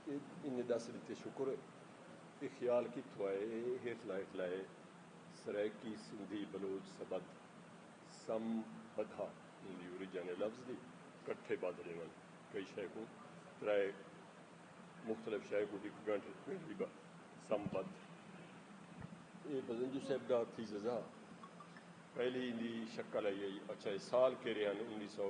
انہیں ڈس ڈتے شکر اے خیال کتھو آئے اے ہیٹلا ہیٹلا اے سرائیکی سندھی بلوچ سبد سم بدھا ہوندی اوریجن اے لفظ دی کٹھے بدھ ڈیون کئی شے کوں ترائے مختلف شے کوں ہک گنڈھ گنڈھی با سم بدھ اے بزنجو صاحب دا تھیززا پہلی دی شکل آئی آئی اچھا اے سال کیرے ہن انیس سو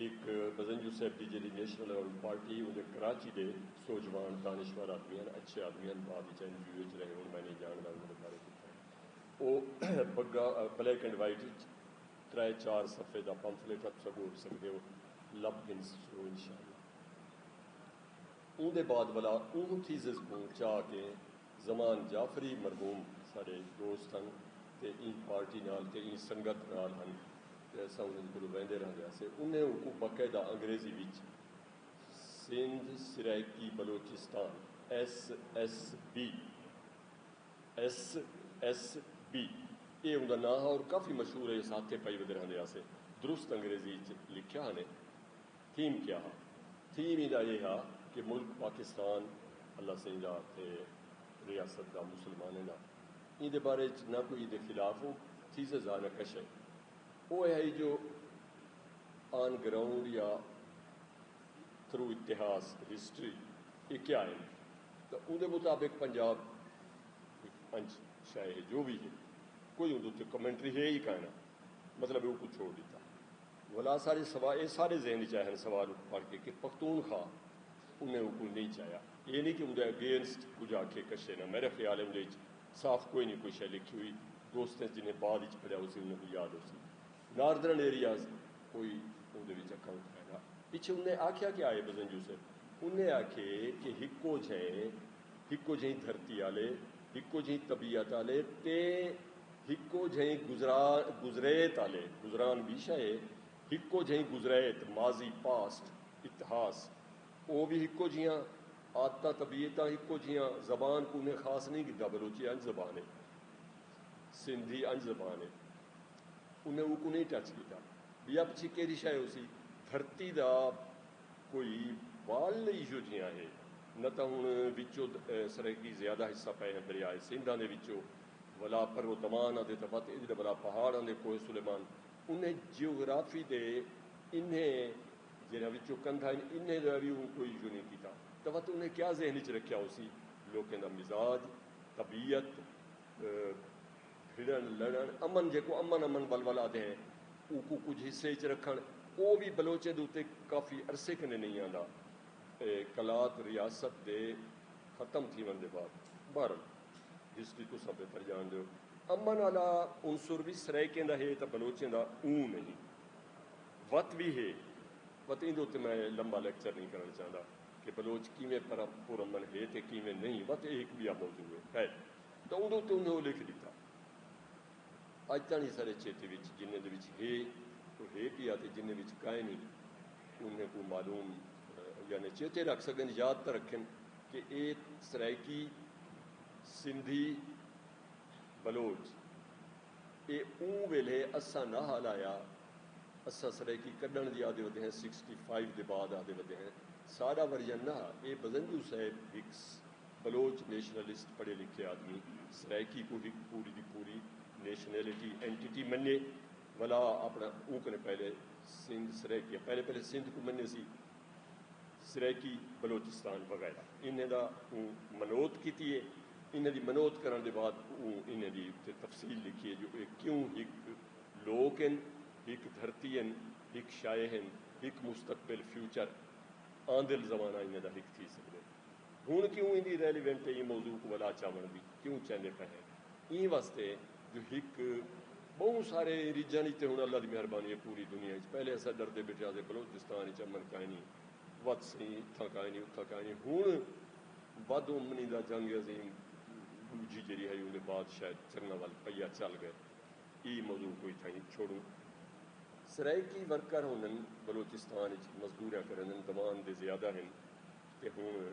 ہک بزنگ یوسیف دی جیڑھی نیشنل ایوارڈ پارٹی اوندے کراچی دے سوجھواݨ دانشور آدمی ہن، اچھے آدمی ہن، بعد وچ این جی او وچ رہے ہن، میں نئیں جاݨدا انہاں دے بارے کتھاں او بگا بلیک اینڈ وائٹ وچ ترے چار صفحے دا پمفلٹ ہا تساں ڳول سڳدے ہو لبھ گھن سو انشاءاللہ۔ اوندے بعد ولا اوں تھیسز کوں چا کے زمان جعفری مرحوم ساڈے دوست ہن تے ایں پارٹی نال تے ایں سنگت نال ہن تے اساں انہاں کولوں ویندے رہندے ہاسے۔ انہیں اونکوں باقاعدہ انگریزی وچ Sindh Saraiki Balochistan, S S B, SSB، ایہ اوندا ناں ہا اور کافی مشہور ہے، اساں ہتھیں پائی ودے رہندے ہاسے۔ درست انگریزی اچ لکھیا ہنے۔ تھیم کیا ہا؟ تھیم ایندا ایہ ہا کہ ملک پاکستان اللہ سئیں دا تے ریاست دا مسلمانیں دا ایندے بارے اچ نہ کوئی ایندے خلاف او تھیسز ہا نہ کش ہے او اے ہئی جو آن گراؤنڈ یا تھرو اتہاس ہسٹری اے کیا ہن تاں اوندے مطابق پنجاب ہک انج شئے ہے جو وی ہے کوئی اوندے اتے کمنٹری ہے ای کائناں مطلب اے اوکوں چھوڑ ڈتا۔ ولا سارے سوال اے سارے ذہن اچ آئے ہن سوال اوں پڑھ کے کہ پختون خواہ انہیں اوں کوں نئیں چاہیا اے نئیں کہ اوندے اگینسٹ کجھ آکھے کشے نہ میرے خیال اے اوندے اچ صاف کوئی نئیں کوئی شے لکھی ہوئی دوستیں اچ جنہیں بعد اچ پڑھیا ہوسی انہیں کوں یاد ہوسی ناردرن ایریاز کوئی اوندے وچ اکاؤنٹ ہے نہ پچھے انہیں آکھیا کیا اے بزن یوسف انہیں آکھے کہ ہکو جھیں ہکو جھیں دھرتی آلے ہکو جھیں طبیعت آلے تے ہکو جھئیں گزریت آلے گزران وی شئے ہے۔ ہکو جھئیں گزریت، ماضی، Past، اتہاس، او وی ہکو جھیاں۔ عادتاں، طبیعتاں ہکو جھیاں۔ زبان کوں انھیں خاص نئیں گھدا، بلوچی انج زبان ہے۔ سندھی انج زبان ہے۔ انھیں اوکوں نئیں ٹچ گھدا۔ ٻیا پچھی کیڑھی شئے ہوسی؟ دھرتی دا کوئی وال ایجھو جھیاں ہے، نہ تاں ہݨ وچوں سرائیکی زیادہ حصہ پئے ہن دریائے سندھ آندے وچوں۔ ولا پر و دمان آندے تاں وت انج دا ولا پہاڑ آندے کوہ سلیمان انہیں جیوگرافی دے انہیں جیرھا وچوں کندھا ہن انہیں دا وی اوں کوئی جو نیں کیتا تاں وت انہیں کیا ذہن وچ رکھیا ہوسی لوکیں دا مزاج طبیعت بھڑن لڑن امن جیکوں امن امن ول ول آدھے ہیں اوکوں کجھ حصے وچ رکھن او وی بلوچیں دے اتے کافی عرصے کنیں نیں آندا اے قلات ریاست دے ختم تھیون دے بعد بہرحال۔ جس دی تساں بہتر جان دے او۔ امن آلا عنصر وی سرائیکیں دا ہے تاں بلوچیں دا اوں نہیں وت وی ہے وت ایندے اتے میں لمبا لیکچر نہیں کرݨ چاہندا کہ بلوچ کیویں پر امن ہے تے کیویں نہیں وت ایہ ہک ٻیا موضوع ہے خیر تاں اوندے اتے انہیں او لکھ ݙتا اڄ تاݨی سارے چیتے وچ جنہیں دے وچ ہے او ہے پیا تے جنہیں وچ کائنی انہیں کوں معلوم یعنی چیتے رکھ سڳن یاد تاں رکھن۔ کہ اے سرائیکی، سندھی، بلوچ اے اوں ویلھے اساں نہ ہا لایا اساں سرائیکی کڈھنڑ دی آہدے ودے ہیں سکسٹی فائیو دے بعد آہدے ودے ہیں ساڈا ورژن نہ ہا اے بزنجو صاحب ہک بلوچ نیشنلسٹ پڑھے لکھے آدمی سرائیکی کوں ہک پوری دی پوری نیشنلٹی اینٹیٹی منے ولا اپنڑاں اوں کنے پہلے سندھ سرائیکی پہلے پہلے سندھ کوں منے سی سرائیکی بلوچستان وغیرہ انھیں دا اوں منوت کیتی ہے انھیں دی منوت کرݨ دے بعد اوں انھیں دی اتے تفصیل لکھی ہے جو اے کیوں ہک لوک ہن ہک دھرتی ہن ہک شئے ہن ہک مستقبل فیوچر آندل زمانہ انھیں دا ہک تھی سڳدے ہن کیوں ایندی ریلیونٹ ہے ایں موضوع کوں ولا چاوݨ دی کیوں چیندے پئے ہیں ایں واسطے جو ہک بہوں سارے ریجن اچ تے ہن اللہ دی مہربانی ہے پوری دنیا اچ پہلے اساں ڈردے بیٹھے ہاسے بلوچستان اچ امن کائنی وت سئیں اتھاں کائنی اتھاں کائنی ہن ود امنی دا جنگ عظیم ڈوجھی جیڑھی ہئی اوندے بعد شاید چنگا ول پیا چل گئے ای موضوع کوں اتھاں ای چھوڑوں سرائیکی ورکر ہوندن بلوچستان اچ مزدوریاں کریندن دوان دے زیادہ ہن تے ہن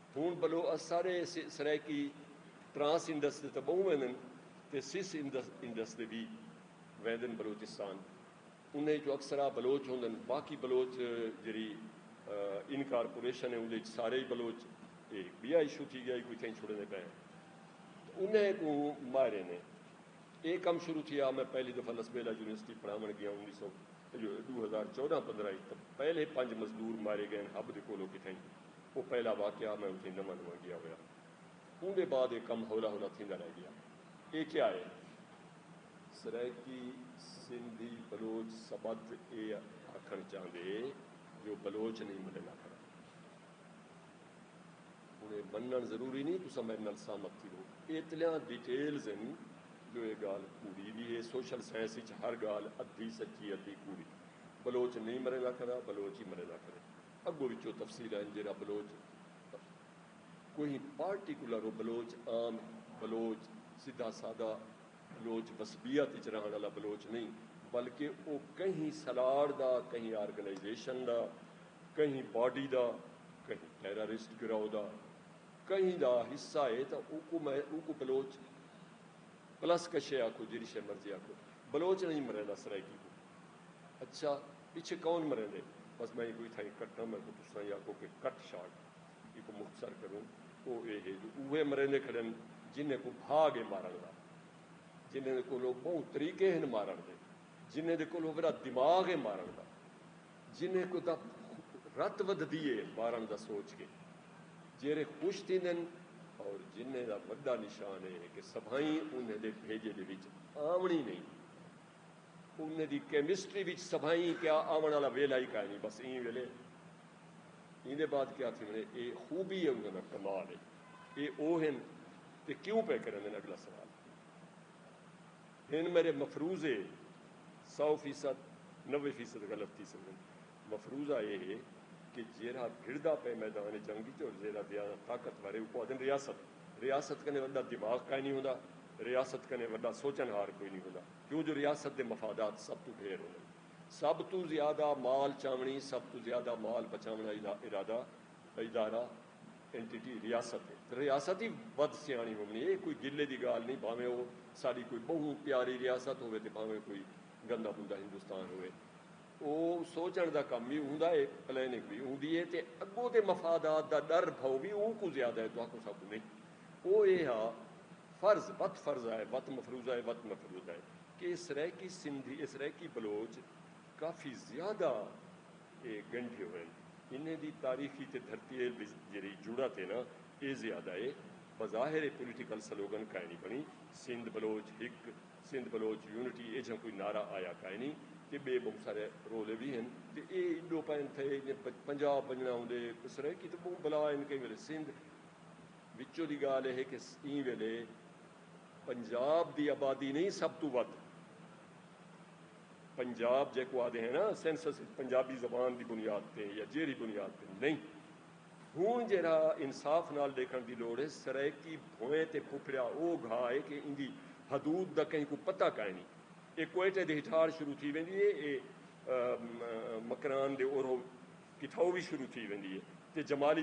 ہن بلو ا سارے سرائیکی ٹرانس انڈس دے تاں بہوں ویندن تے سس انڈس دے وی ویندن بلوچستان انہاں اچوں اکثرا بلوچ ہوندن باقی بلوچ جیرھی انکارپوریشن ہے اوندے اچ سارے ای بلوچ اے بیا ایشو تھی گیا ایکوں اتھاں چھڑیندے پئے ہیں تاں انہاں اکوں ماہریں نے اے کم شروع تھیا میں پہلی دفعہ لسبیلہ یونیورسٹی پڑھاون گیا انیس سو ڈو ہزار چودہ پندرہ اچ تاں پہلے پنج مزدور مارے گئے ہن ہب دے کولو کتھائیں او پہلا واقعہ میں اتھیں نواں نواں گیا ہویا اوندے بعد اے کم ہولا ہولا تھیندا رہ گیا اے کیا اے؟ سرائیکی سندھی بلوچ سبت اے آکھن چاہندے جو بلوچ نہیں ملے نہ کرن ہن اے منن ضروری نہیں تساں میڈے نال سہمت تھیو ایتلیاں ڈیٹیلز ہن جو اے گالھ کوڑی وی اے سوشل سائنس اچ ہر گالھ ادھی سچی ادھی کوڑی بلوچ نہیں مرے نہ کرا بلوچ ہی مرے نہ کرے۔ اگو وچ او تفصیلاں ہن جیرھا بلوچ کوہیں پارٹیکولر او بلوچ عام بلوچ سدھا سادہ بلوچ وسبیت وچ رہݨ آلا بلوچ نئیں بلکہ او کہیں سلاڑ دا کہیں آرگنائزیشن دا کہیں باڈی دا کہیں ٹیررسٹ گروہ دا کہیں دا حصہ ہے تاں اوکوں میں اوکوں بلوچ پلس کشے آکھو جیرھی شے مرضی آکھو بلوچ نئیں مریندا سرائیکی کوں۔ اچھا پچھے کون مریندے بس میں ایکوں اتھاں ہی کٹاں میں کوں تساں ہی آکھو کہ کٹ شاٹ ایکوں مختصر کروں او اے ہے جو اوہے مریندے کھڑن جنہیں کوں بھاگ ہے مارن دا جنہیں دے کولو بہوں طریقے ہن مارن دے جنہیں دے کولو وڑا دماغ ہے مارن دا جنہیں کو دا رت ودھ دیئے مارن دا سوچ کے جیرے خوش تھی دن اور جنہیں دا وڈا نشان ہے کہ سبھائیں انہیں دے بھیجے دے وچ آمنی نہیں انہیں دی کیمسٹری وچ سبھائیں کیا آون آلا ویلھا ہی کائنی بس ایں ویلھے ایندے بعد کیا تھی ونے اے خوبی ہے انہیں دا کمال ہے اے او ہن تے کیوں پہ کریں دن اگلا سوال ہن میرے مفروضے سو فیصد نوے فیصد غلط تھی سکتے مفروضہ اے ہے کہ جیرھا بھڑدا پئے میدان جنگ وچ اور جیرھا زیادہ طاقتور ہے اوکوں آہدن ریاست۔ ریاست کنیں وݙا دماغ کائنی ہوندا۔ ریاست کنیں وݙا سوچݨ ہار کوئی نی ہوندا۔ کیوں جو ریاست دے مفادات سب توں ڈھیر ہوندن۔ سب توں زیادہ مال چاوݨی، سب توں زیادہ مال بچاوݨ آلا ارادہ، ادارہ، Entity، ریاست ہے۔ تاں ریاست ہی ودھ سیاݨی ہووݨی اے۔ اے کوئی گلے دی گالھ نی بھانویں او ساݙی کوئی ٻہوں پیاری ریاست ہووے تے بھانویں کوئی گندا مندا ہندوستان ہووے۔ او سوچنڑ دا کم وی ہوندا اے، پلاننگ وی ہوندی اے تے اگوں دے مفادات دا ڈر بھئو وی اونکوں زیادہ اے تہاکوں ساکوں نئیں۔ او اے ہا فرض وت فرضہ اے وت مفروضہ اے وت مفروضہ اے کہ اے سرائیکی سندھی اے سرائیکی بلوچ کافی زیادہ اے گنڈھے ہوئن انہیں دی تاریخی تے دھرتی اے وچ جیرھی جڑت اے نا اے زیادہ اے بظاہر اے پولیٹیکل سلوگن کائنی بنڑی سندھ بلوچ ہک سندھ بلوچ یونٹی ایجھاں کوئی نعرہ آیا کائنی تے ٻئے ٻہوں سارے رولے وی ہن تے اے ایݙو قائم تھئے جیں پنجاب ونڄݨا ہوندے تے سرائیکی تاں ٻہوں بلا ہن کہیں ویلے سندھ وچوں دی ڳالھ اے کہ ایں ویلے پنجاب دی آبادی نئیں سب توں ودھ پنجاب جیکوں آہدے ہیں نا سینسس اچ پنجابی زبان دی بنیاد تے یا جیرھی بنیاد تے نئیں ہنڑ جیہڑا انصاف نال ڈیکھنڑ دی لوڑ ہے سرائیکی بھوئیں تے پھوپھڑیا او گھا ہے کہ ایندی حدود دا کہیں کوں پتہ کائنی۔ اے کوئٹہ دے ہٹھار شروع تھی ویندی ہے اے مکران دے اورھو کٹھاؤ وی شروع تھی ویندی ہے تے جمالی